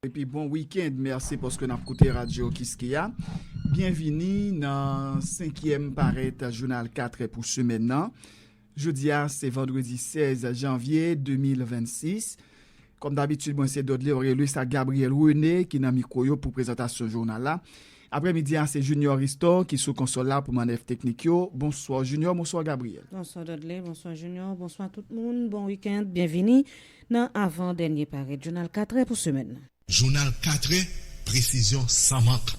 Epi bon weekend merci paske nap koute radio kiskeya byen vini nan 5 yèm parèt jounal 4 è pou semèn nan jodia se vandredi 16 janvye 2026 kòm dabitid mwen se Dodley Orelus ak Gabriel Rene ki nan mikro yo pou prezantasyon jounal la. Aprè midi a se Junior Ristor ki sou konsòl la pou manèv teknik yo. Bonswa Junior, bonswa Gabriel. Bonswa Dodley, bonswa Junior, bonswa tout moun, bon weekend, byenvini nan avan dènye parèt jounal 4 è pou semèn nan. Jounal 4 è, presizyon san mank.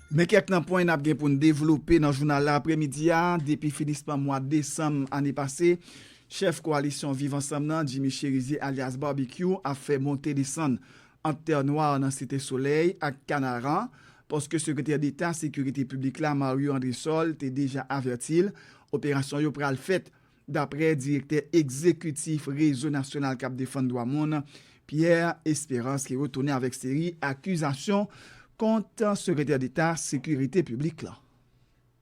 Men kèk nan pwen n ap gen pou n devlope nan jounal la apremidi a, depi finisman mwa desanm ane pase, chèf koalisyon Viv Ansanm nan, Jimmy Cherizier alyas Barbecue ap fè monte desann ant Tè Nwa nan Site Solèy ak Kanaran, paske sekretè deta sekirite piblik la Mario Andresol te deja avèti l operasyon yo pral fèt Daprè direktè egzekitif Rezo Nasyonal k ap Defann Dwa Moun, Pierre Espérance ki retounen avèk seri akizasyon kont Sekretè Deta Sekirite Piblik la.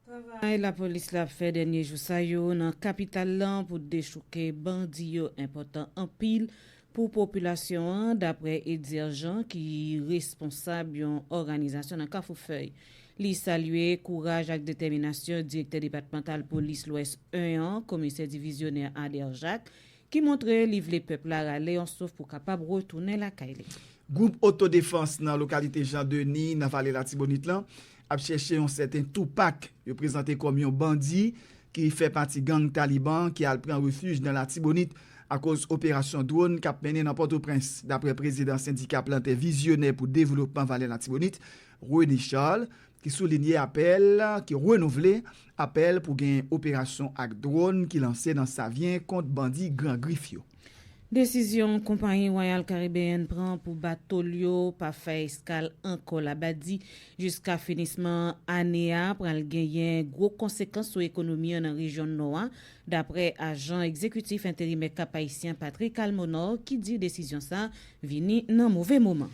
Travay lapolis la ap fè dènye jou sa yo nan kapital lan pou dechouke bandi yo enpòtan anpil Pou popilasyon an, daprè Etzer Jean ki responsab yon òganizasyon nan Kafoufèy. Li salye kouraj ak detèminasyon direktè depatmantal polis Lwès 1 an, komisè divizyonè Ader Jacques, ki montre li vle pèp la rale yon souf pou kapab retounen lakay li. Gwoup otodefans nan lokalite Jean Denis nan vale Latibonit lan ap chèche yon sèten Tupac, yo prezante kòm yon bandi ki fè pati gang Taliban ki al pran refij nan Latibonit akoz operasyon dwòn k ap mennen nan Pòtoprens, daprè prezidan sendika plantè vizyonè pou devlopman Vale Latibonit, René Charles, ki soulinye apèl, ki renouvle apèl pou gen operasyon ak dwòn ki lanse nan Savyen kont bandi Gran Grif yo. Desizyon konpayi Royal Caribbean pran pou bato l yo pa fè eskal ankò Labadi jiska finisman ane a pral genyen gwo konsekans sou ekonomi an nan rejyon Nò a, daprè ajan egzekitif enterimè Cap-Haïtien Patrick Almonor ki di desizyon sa vini nan move moman.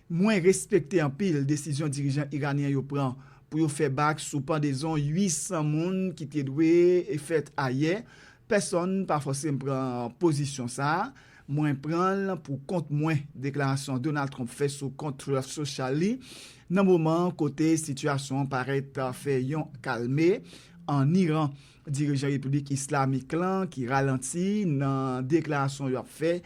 Mwen respekte anpil desizyon dirijan iranyen yo pran pou yo fè bak sou pandezon 800 moun ki te dwe fèt ayè. Pèsonn pa fòse m pran pozisyon sa a. Mwen pran l pou kont mwen, deklarasyon Donald Trump fè sou kont Truth Social li nan moman kote sitiyasyon an parèt fè yon kalme an Iran. Dirijan Repiblik Islamik lan ki ralanti nan deklarasyon yo ap fè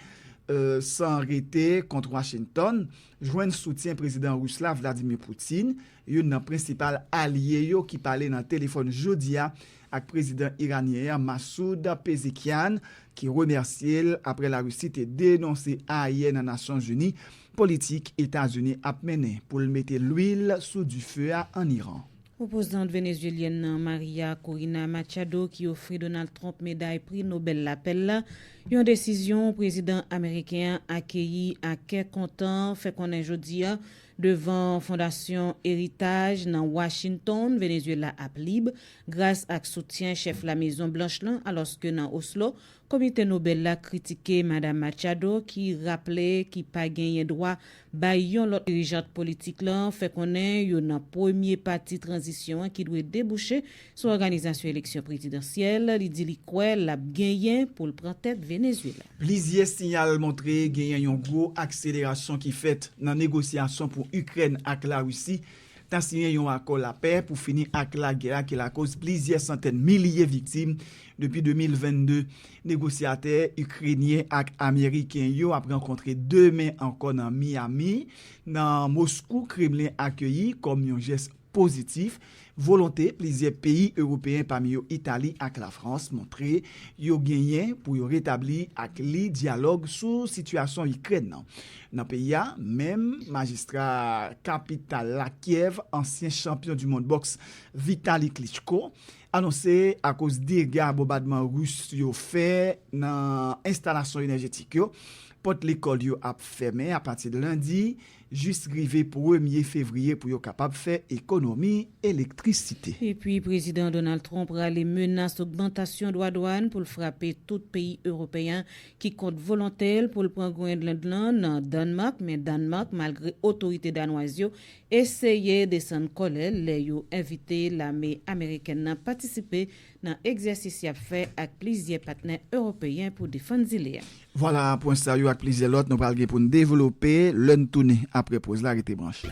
san rete kont Washington jwenn soutyen Prezidan Ris la Vladimir Putin, youn nan prensipal alye yo ki pale nan telefòn jodi a ak Prezidan Iranyen an Massoud Pezeshkian ki remèsye l aprè La Risi te denonse ayè nan Nasyon Zini politik Etazini ap mennen pou l mete lwil sou dife a an Iran. Opozant venezuelyèn nan Maria Corina Machado ki ofri Donald Trump meday Pri Nobèl Lapè la, yon desizyon prezidan ameriken an akeyi a kè kontan, fè konnen jodi a devan Fondasyon Heritage nan Washington, Venezuela ap lib gras ak soutyen chèf La Mezon Blanch lan, alòske nan Oslo, Komite Nobel la kritike Madam Machado ki raple ki pa genyen dwa bay yon lòt dirijant politik lan fè konnen yo nan premye pati tranzisyon an ki dwe debouche sou òganizasyon eleksyon prezidansyèl li di li kwè l ap genyen pou l pran tèt Venezuela. Plizyè siyal montre genyen yon gwo akselerasyon ki fèt nan negosyasyon pou Ikrèn ak Larisi ta siyen yon akò lapè pou fini ak lagè a ki lakoz plizyè santèn milye viktim depi 2022. Negosyatè Ikrenyen ak Ameriken yo ap rankontre demen ankò nan Miami, nan Moskou, Kremlen akeyi kòm yon jès pozitif volonte plizyè peyi Ewopeyen pami yo Itali ak Lafrans montre yo genyen pou yo retabli ak li dyalòg sou sitiyasyon Ikrèn nan. Nan peyi a, menm majistra kapital la Kyèv, ansyen chanpyon du mond bòks Vitali Klitschko, anonse akoz dega bonbadman Ris yo fè nan enstalasyon enèjetik yo, pòt lekòl yo ap fèmen apati lendi jis rive premye fevriye pou yo kapab fè ekonomi elektrisite. Epi Prezidan Donald Trump rale menas ogmantasyon dwa dwàn pou l frape tout peyi Ewopeyen ki kont volonte l pou l pran Groenland lan nan Dànmak, men Dànmak, malgre otorite danwaz yo eseye desann kòlè l lè yo envite lame amerikèn nan patisipe nan egzèsis y ap fè ak plizyè patnè ewopeyen pou defann zile a. Vwala, pwen sa yo ak plizyè lòt nou pral gen pou n devlope lè n tounen apre poz la, rete branche.